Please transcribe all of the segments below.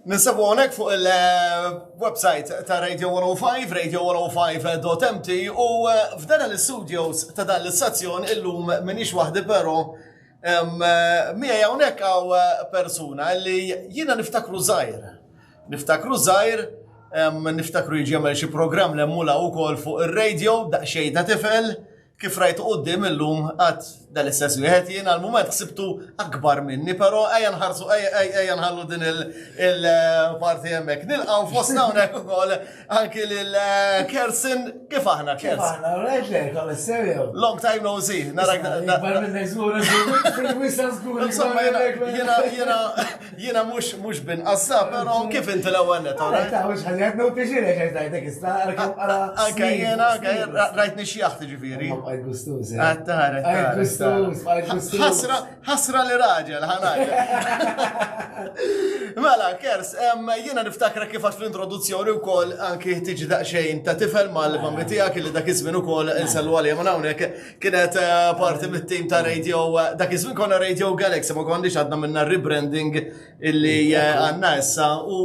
Ninsabu għonek fuq il-website ta' Radio 105, radio105.mt u eh, f'dan l-studios ta' dan l-istazzjon illum minix wahdi pero eh, mija jawnek għaw eh, persuna li jina niftakru zaħir. Niftakru zaħir, niftakru jġemel xie program l-emmula u kol fuq il-radio, daqxej ta' tifel, Kif rajtu qoddim illum għad dal-istess wieħed jien għal-mument ħsibtu akbar minni, però ejja nħarsu ejja nħallu din il-parti eh, hemmhekk. Nilqgħu fostna hawnhekk ukoll anki lil eh, Kersin kif aħna Kersin. Long time no see. Narak. Jiena Jiena mhux mhux bin qassa, però kif inti l-ewwel net, all right? Mhux ħaġa qed noti xi lek għax dajtek issa Anke jiena anke rajt nixjaħ tiġifieri. Għajt gustus. Għajt taħaret. Għajt gustus, għajt gustus. Ħasra, ħasra li raġel, ħanaj. Mela, kers, jiena niftakra kif għax l-introduzzjoni wkoll anki tiġi daqsxejn ta' tifel mal-mammi tiegħek li dak iż-żmien ukoll insellu għalija minn hawnhekk kienet eh, parti mit-tim ta' Radio, eh, dak iż-żmien konna Radio Galaxy, ma konniex għadna minna rebranding illi eh, għanna issa u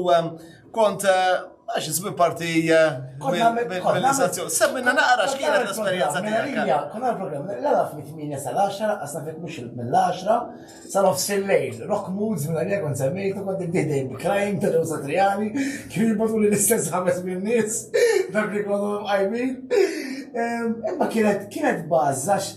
kont għax iżmin parti mill-organizzazzjoni. Semmina naqra x'kienet l-esperjenza tiegħek. Konna l-programm, l-għala fl-8 sal-10, għasna fik mux mill-10, Sa nofs il-lejl, Rock Moods mingħajr jekk kont semmejtu kont niddieħ dejjem bi Crying ta' Joe Satriani, kif jirbotuli l-istess ħames minn nies, dawk li jkollhom imqajmin. Imma kienet kienet buzz għax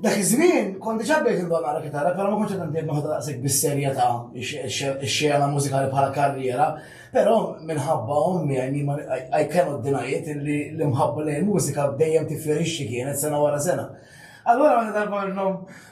dak iż-żmien kont diġà bdejt indoqq naqra kitarra però ma kontx qed intend noħodha daqshekk bis-serjetà x-xena mużikali bħala karriera, però minħabba ommi I mean I cannot deny it illi l-imħabba lejn il-mużika dejjem tifjorixxi kienet sena wara sena. Allura meta darba minnhom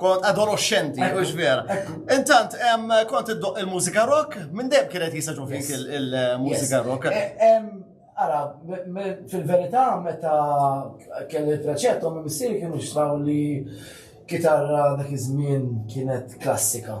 Kont adolescenti, u xver. Intant, kont id-doq il-mużika rock, minn deb kienet jisaġu fik il-mużika rock. Eh, ara, fil-verità, meta kelli preċetto, minn missiri kienu xtraw li kitarra dak iż-żmien kienet klassika.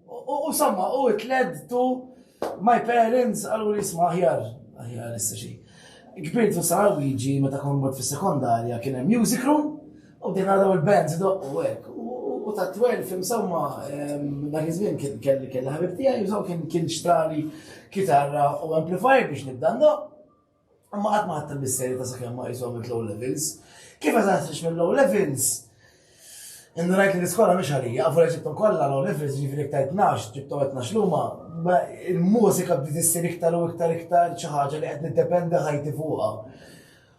U samma, u it led to my parents għallu li jisma ħjar, ħjar issa xi. Kbirt u sar Luigi meta kon mort fis-sekondarja kien hemm music room u din għadaw il-bands doqqu hekk. U ta' 12 insomma dak iż-żmien kelli kelli ħabib tiegħi u kien xtrali kitarra u amplifier biex nibda ndoq. Imma qatt ma ħadd il-misterju ta' sakemm ma qishom il-low levels. Kif eżatt nix mill-low levels? Indunajt li l-iskola mhix għalija, għafu li ġibtom kollha low levels, ġifieri iktar 12, ġibtom 12 luma, il-mużika bdiet issir iktar u iktar iktar xi ħaġa li qed niddependi ħajti fuqha.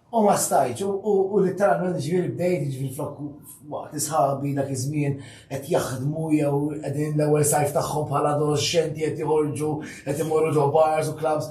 U ma stajċ, u literalment ġviri bdejt, ġviri flok waqt isħabi dak iż-żmien qed jaħdmu jew qegħdin l-ewwel sajf tagħhom bħala adolescenti qed joħorġu qed imorru ġo bars u clubs.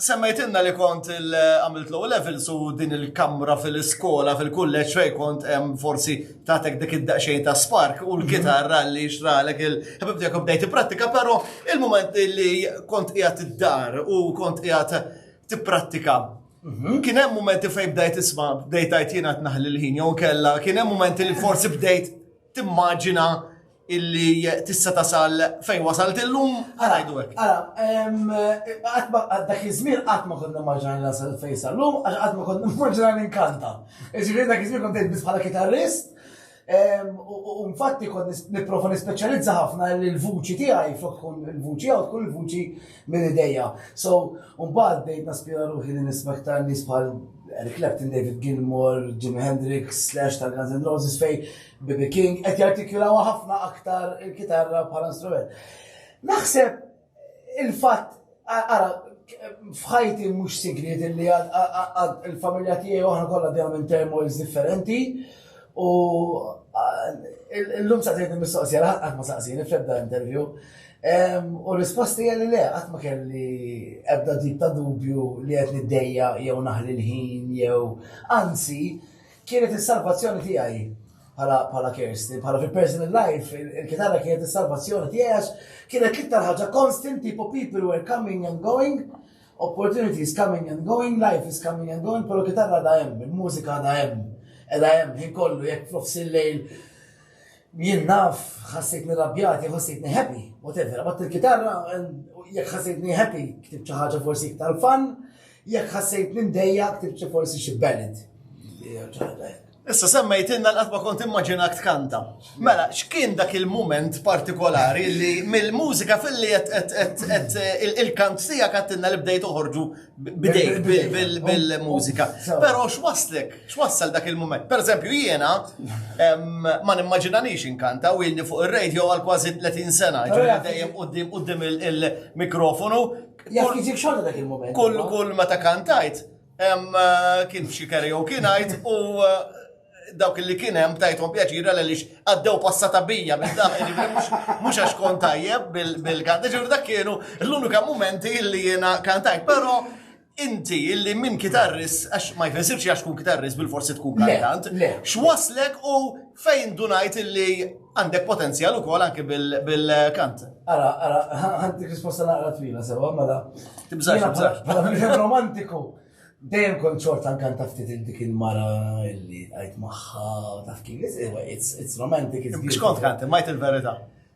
Semmejtilna li kont għamilt low level su din il-kamra fil-iskola, fil-kulleġġ fej kont hemm forsi tatek dik id-daqsxejn ta' spark u l-kitarra li xralek il-ħabib tiegħek bdejt prattika, però il-moment li kont qiegħed id-dar u kont qiegħed tipprattika. Mhm. Kien hemm momenti fejn bdejt isma' bdejt għajt jiena tnaħli l-ħin jew kella, kien hemm momenti li forsi bdejt timmaġina illi tista' tasal fejn wasalt illum, ħanajdu hekk. Ara, dak iż-żmien qatt ma kont nimmaġinani nasal fejn sal-lum, għax qatt ma kont nimmaġinani nkanta. Iġifieri dak iż-żmien kont biss bħala kitarrist, u infatti kont nipprova nispeċjalizza ħafna li l-vuċi tiegħi flok tkun il-vuċi jew tkun il-vuċi minn idejja. So, mbagħad bdejt naspira ruħi li nispekta nies bħal Eric Clapton, David Gilmour, Jimi Hendrix, Slash tal-Guns N' Roses fej BB King qed jartikulawa ħafna aktar il-kitarra bħala strument. Naħseb il-fatt ara fħajti mhux sigriet li il-familja tiegħi oħra kollha dejjem minn termos differenti u l-lum sa tgħid mistoqsija qatt ma saqsini fl-ebda interview. U risposti għalli le, qatt ma kelli ebda tip ta' dubju li qed niddejja jew naħli l-ħin jew anzi Kienet is-salvazzjoni tiegħi bħala Kirsten, bħala fi personal life, il-kitarra kienet is-salvazzjoni tiegħi għax kienet l-iktar ħaġa constant tipo people were coming and going, opportunities coming and going, life is coming and going, pero kitarra da hemm, il-mużika da hemm, edha hemm, ħin kollu jekk f'nofs il-lejl jien naf ħassejtni rabjati, ħassejtni happy, whatever, bat il-kitarra jekk ħassejtni happy, ktib xi ħaġa forsi iktar fan, Jekk ħassejtni mdejja ktibt xi forsi xi ballad. Issa semmejtinna l ma kont immaġina kanta. Mela, x'kien dak il-moment partikolari li mill-mużika fil-li il-kant sija kattinna li bdejt uħorġu bidejk bil-mużika. Pero x'waslek, x'wassal dak il-moment. Per eżempju, jiena ma nimmaġinanix inkanta u jilni fuq il-radio għal kważi 30 sena, ġuri dejjem qoddim il-mikrofonu Jaf jiġik xogħol dak il-moment. Kull kull meta kantajt, eh, kien f'xi karaoke night u eh, dawk li kien hemm tajthom pjaċira l lix għaddew passata bija minn dak mhux għax kont tajjeb bil-kanta. Ġifieri dak kienu l-unika momenti li jiena kantajt, però inti illi minn kitarris, għax ma jfessirx għax kun kitarris bil-forsi tkun kantant, x'waslek u Fejn indunajt illi għandek potenzjal ukoll anke bil-kant. Ara, ara, għandek risposta naqra twila sewa, mela. Tibżax, tibżax. Mela, minn romantiku. Dejjem kont xorta nkanta ftit dik il-mara illi għajt maħħa u taf kif, it's romantic. Biex kont kant, majt il-verita.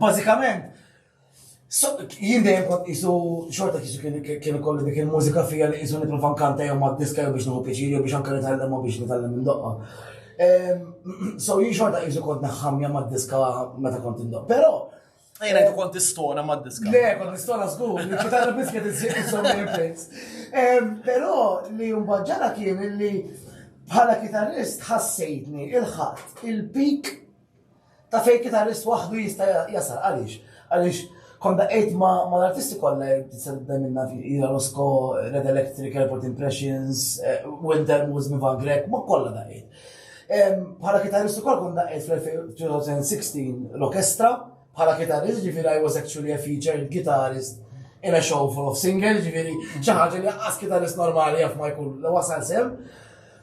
Bażikament, jien dejjem kont isu xorta kisu kien ikollu dik il-mużika fija li isu nitlu fankanta jew ma' diska jew biex nħu pjaċir jew biex anke nitgħallem u biex nitgħallem minn doqqa. Ehm, so jien xorta isu kont naħħamja ma' diska meta kont indoq. Però Jena jtu kont istona ma' diska. Le, kont istona zgur, li ċitarra bisket iżżiq insomma il-prints. Ehm, Pero li jumbaġġara kien li bħala kitarrist ħassejtni il-ħadd il-pik Taf fejn kitarrist waħdu jista' jasal għaliex? Għaliex kont daqgħid ma' l-artisti kollha jtissebda minna Ira Rosco, Red Electric, Airport Impressions, eh, Wilder Moose, Mivan Grek, ma' kollha daqgħid. Bħala kitarrist ukoll kont daqgħid fl-2016 l-orkestra, bħala kitarrist ġifieri I was actually a featured guitarist in a show full of singers, ġifieri xi ħaġa li ħaqqas kitarrist normali jaf ma jkun wasal sem.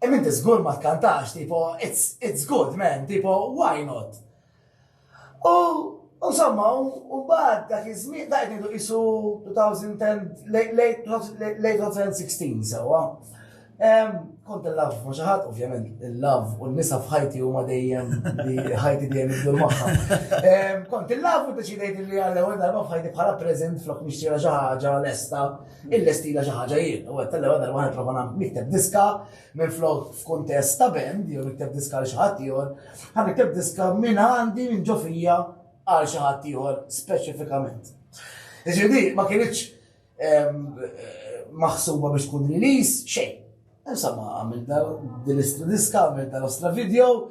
Imma inti żgur ma tkantax, tipo, it's, it's good, man, tipo, why not? U Insomma, u bad dak iż-żmien dak qed isu 2010 late 2016 sewwa. Kont il-lav ma xi ħadd, ovvjament, il-lav u n-nisa f'ħajti huma dejjem li ħajti dejjem jibdu magħha. Kont il-lav u deċidejt li għal ewwel darba f'ħajti bħala preżent flok nixtieq xi ħaġa lesta. Il-lestila xi ħaġa jien, u għed tal-lewa darba għan prova nikteb diska minn flok f'kuntest ta' band, jew nikteb diska li xaħat ieħor, għan nikteb diska minn għandi minn ġofija għal xaħat ieħor speċifikament. Iġifieri ma kienx ehm, maħsuba biex tkun release xejn. Insomma, għamil dal-diska, għamil dal-ostra video,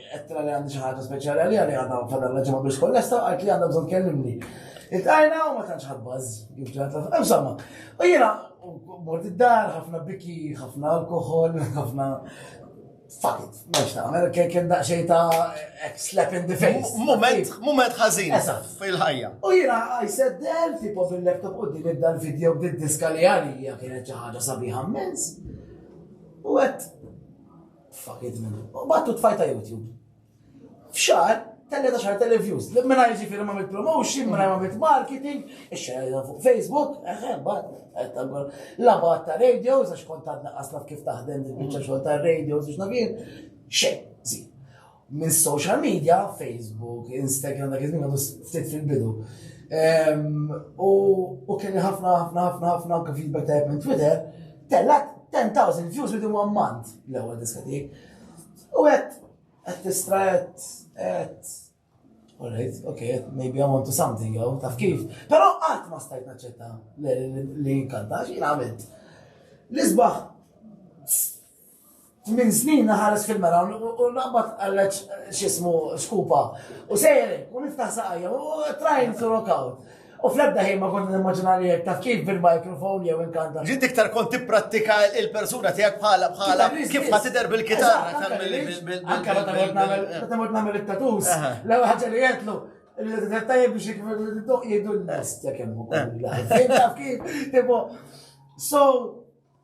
Qedtilha li għandi xi ħaġa speċjali għaliha li għadha fadal raġel ma biex kollesta u qalt li għandha bżonn tkellimni. Iltqajna u ma tantx ħadbaż, kif ġata. Insomma, u jiena mort id-dar, ħafna biki, ħafna alkohol, ħafna fuck it, meċ ta' għamel, kien daqxej ta' slap in the face. Moment, moment ħazin. Fil-ħajja. U jina, I said del, tipo fil-laptop u din id-dal video b'did diska li għalija kienet ċaħġa sabiħa mens. U għet, Fuck it, man. U battu tfajt ta' YouTube. F'xar, tella ta' xar tella views. Li minna ġifiri ma' promotion, minna ma' mit marketing, xarja fuq Facebook, eħe, bat, la bat ta' radios, għax kont għadna għasna kif taħdem il-bicċa xol ta' radios, biex nabir, xej, zi. Minn social media, Facebook, Instagram, dak iż-żmien għadu ftit fil-bidu. U kien ħafna, ħafna, ħafna, ħafna anke feedback ta' minn Twitter, tellat 10,000 views within one month l-ewwel diska tiegħek. U qed qed tistra qed qed Alright, okay, maybe I want to something, jew taf kif. Però qatt ma stajt naċċetta li jinkanta, xi għamilt. L-isbaħ Tmien snin naħares fil-mera u naqbad għalleċ xismu skupa. U sejri, u niftaħ saqajja, u trying to rock out. U fl-ebda ħin ma kont nimmaġina li jek taf kif bil-mikrofon jew inkanta. Ġid iktar kont tipprattika il-persuna tiegħek bħala bħala kif ma tidher bil-kitarra tal-bil. Anke meta mort nagħmel meta mort nagħmel it-tatus, l-ewwel ħaġa li jgħidlu il-tajjeb biex jgħidu l-nest jekk hemm ukoll. Taf kif, tipo, so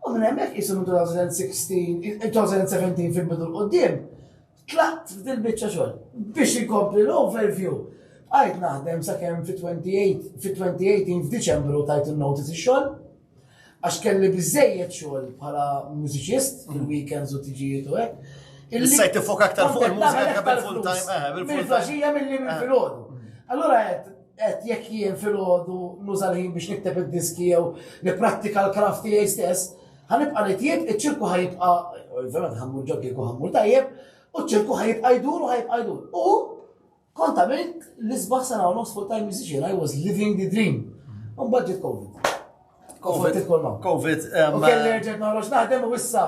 U minn hemmhekk qisu minn 2016, 2017 fil-bidu l-qoddim, tlaqt f'dil biċċa xogħol biex inkompli l-overview. Għajt naħdem sakemm fit-28 fit-2018 f'Diċembru tajt il-notice ix-xogħol għax kelli biżejjed xogħol bħala mużiċist, mm. il-weekends u tiġijiet u hekk. Il-sajt tifok aktar fuq il-mużika full time, eh, bil-flaxija mill-li mill-filgħodu. Eh. Allura għed, Qed jekk jien filgħodu nuża l-ħin biex nikteb id-diski jew nipprattika l-kraft tiegħi stess, ħanibqa' nitjieb, iċ-ċirku ħajibqa' ovvjament ħammur ġoggi u ħammur tajjeb, u ċ-ċirku ħajibqa' jdur u ħajibqa' jdur. U kont għamilt l-isbaħ sena u nofs full-time musician, I was living the dream. Un budget COVID. COVID. Covid. Kelli rġet naħroġ naħdem u issa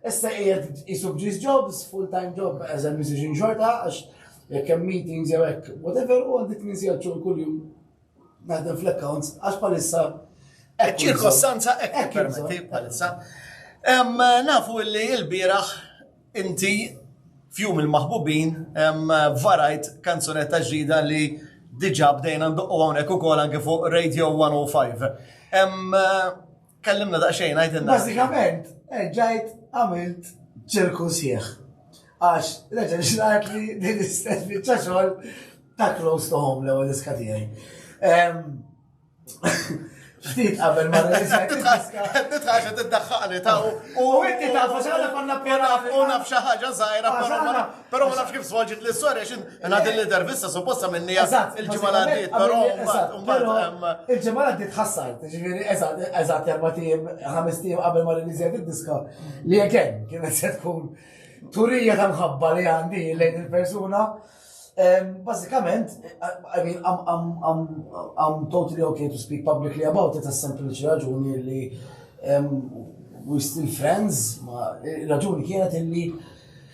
Issa qiegħed isu b'ġis jobs, full time job as a musician xorta, għax jekk hemm meetings jew hekk, whatever, u għandi tmien sigħat xogħol kuljum naħdem fl-accounts, għax palissa. Hekk ċirkostanza hekk permetti palissa. Nafu li l-bieraħ inti fjum il-maħbubin varajt kanzunetta ġdida li diġa bdejna ndoqqu hawnhekk ukoll anke fuq Radio 105. Kellimna daqsxejn għajdilna. Bażikament, ġajt għamilt ċirku sieħ. Għax, reġa xnajt li din istess bieċa xogħol ta' close to home l-ewwel diska tiegħi. Ftit qabel ma Titħax tiddaħħaqni ta' u inti tafu xaħna konna pjana u naf xi ħaġa żgħira però Pero ma nafx kif svolġit li s-sor, għax inna din l-intervista supposta minni il-ġimma l-għaddit, pero il-ġimma l-għaddit ħassar, ġiviri, eżat, eżat, jarba tim, ħames tim qabel ma rinizjat il-diska, li għeken, kienet se tkun turija ta' mħabba li għandi lejn il-persuna. Basikament, I mean, I'm, I'm, I'm, I'm totally okay to speak publicly about it, sempliċi raġuni li we still friends, ma raġuni kienet illi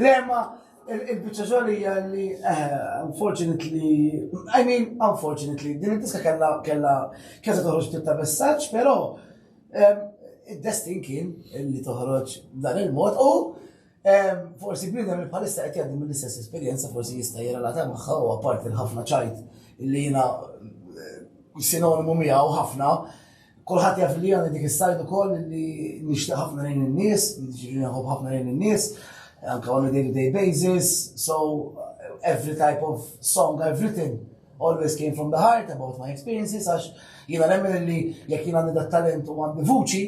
Le, ma il-bicċa xogħol hija li eh, unfortunately, I mean unfortunately, din id-diska kellha kellha kellha toħroġ ftit ta' messaġġ, però ehm, id-destin kien li toħroġ dan il-mod u ehm, forsi bniedem li bħalissa qed jgħaddi mill-istess esperjenza forsi jista' jirrelata magħha u apparti l-ħafna ċajt li jiena eh, sinonimu miegħu ħafna Kulħadd jaf li għandi dik is-sajd ukoll li nixtieq ħafna lejn in-nies, jiġifieri nħobb ħafna lejn in-nies, anke on a day-to-day basis, so every type of song I've written always came from the heart about my experiences, għax jiena nemmen li jekk jiena għandi talent u għandi vuċi,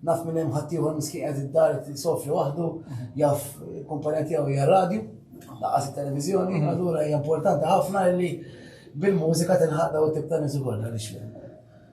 naf minn hemm ħaddieħor miskin qed id-dar sofri waħdu, jaf kumpanija tiegħu hija radju, laqas it-televiżjoni, mhm. allura hija importanti ħafna li bil-mużika tinħadda u tibta nisu kollha li xlem.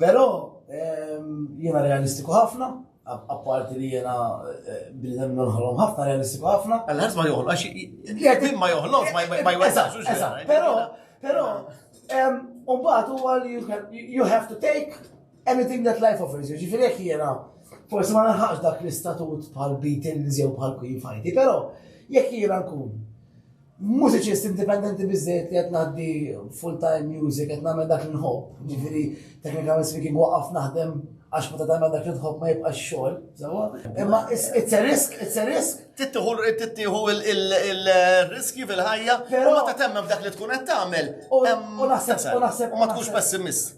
Però jiena realistiku ħafna, apparti li jiena eh, bnidem nħolom ħafna realistiku ħafna. Għal-ħadd ma joħloq, għax ma joħloq, ma jwesax. Però, però, umbat huwa li you have to take anything that life offers you. Ġifieri jekk jiena forsi ma naħax dak l-istatut bħal Beatles jew bħal Queen Fajti, però jekk jiena nkun mużiċist indipendenti bizzejt li qed ngħaddi full-time music, qed nagħmel dak li nħobb, ġifieri technical speaking waqaf naħdem għax meta tagħmel dak li tħobb ma jibqax xogħol, sewwa. Imma it's a risk, it's a risk. Tittieħu tittieħu il-riski fil-ħajja, però meta temmen f'dak li tkun qed tagħmel. U naħseb u naħseb u ma tkunx pessimist.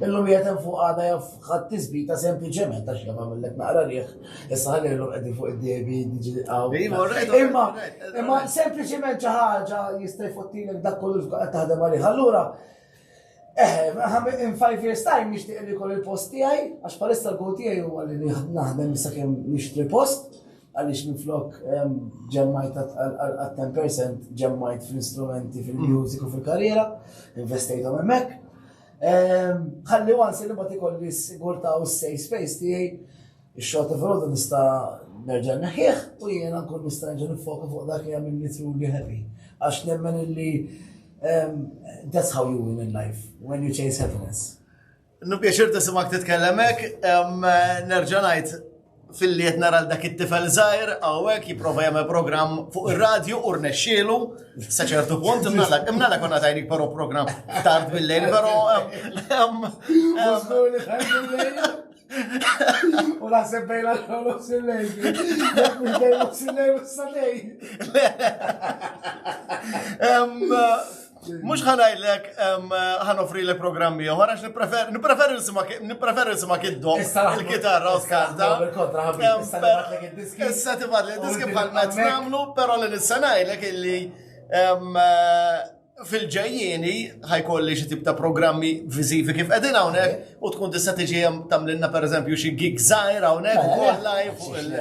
Illum jgħet hemm fuq għada jaf ħadd tisbita sempliċement għax jaf għamillek naqra riħ, issa ħalli illum qegħdin fuq id-debi diġi għaw. Imma imma sempliċement xi ħaġa jista' jfottilek dak kollu qed taħdem għalih. Allura Eh, in five years time nixtieq li kolli post tiegħi, għax palissa l-gow tiegħi huwa li naħdem issa kemm nixtri post, għaliex minn flok ehm, ġemmajt għal 10% ġemmajt fl-instrumenti, fil-music u fil-karriera, investajt hemmhekk. Ħalli wansi li ma tikolli s-sigurta u s-safe space tiegħi, ix-xogħol ta' filgħodu nista' nerġa' neħħieħ u jiena nkun nista' nerġa' nifoka fuq dak li jagħmel li truly happy. Għax nemmen illi that's how you win in life, when you chase happiness. Nupjaċir tisimak titkellem hekk, nerġa' ngħid Filli qed nara dak it-tifel żgħir hawnhekk jipprova jagħmel programm fuq ir-radju u rnexxielu sa ċertu punt imnalak imnalak konna tajnik però programm tard bil-lejl però U la se bejla xogħol sillej. Jekk mhux bejla sillej u s-sadej. Mux ħanajlek ħanofri l programmi uħar, għax nipreferi nisima kiddo il-kitarra u skanta. Issa tibat li diski bħal mezz namlu, pero li nissanajlek illi fil-ġejjini ħajkolli xi tip ta' programmi viżivi kif qegħdin hawnhekk u tkun tista' tiġi hemm tagħmlilna pereżempju xi gig żgħir hawnhekk ukoll live fuq il-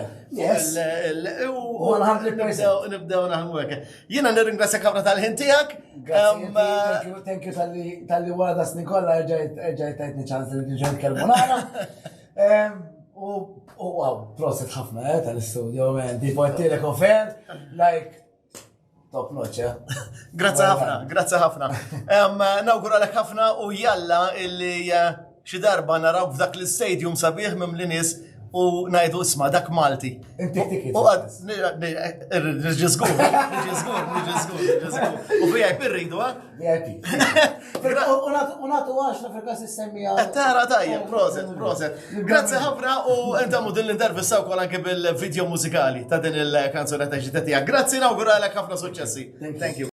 u nibdew naħdmu hekk. Jiena nirringrazzjak ħafna tal-ħin tiegħek. Thank you tal-li wara da snin kollha ġajt tajtni ċans li ġejt kelmu nara. U wow, proset ħafna eh, tal-istudio, man. Di portilek offer, like, top notch, eh? Grazzi ħafna, grazzi ħafna. Nawguralek ħafna u jalla illi eh, Xi darba narawk f'dak l-istadium sabiħ mimli nies u ngħidu isma' dak Malti. Inti ticket. U għad, nġizgur, nġizgur, nġizgur, nġizgur. U VIP rridu, ha? VIP. U natu għax la frekas s-semmija. Eh, tara tajja, proset, proset. Grazie ħafna u enta mu din l-intervista u kol anke bil-video mużikali ta' din il-kanzunetta ġitetija. Grazie nawguralek ħafna suċċessi. Thank you.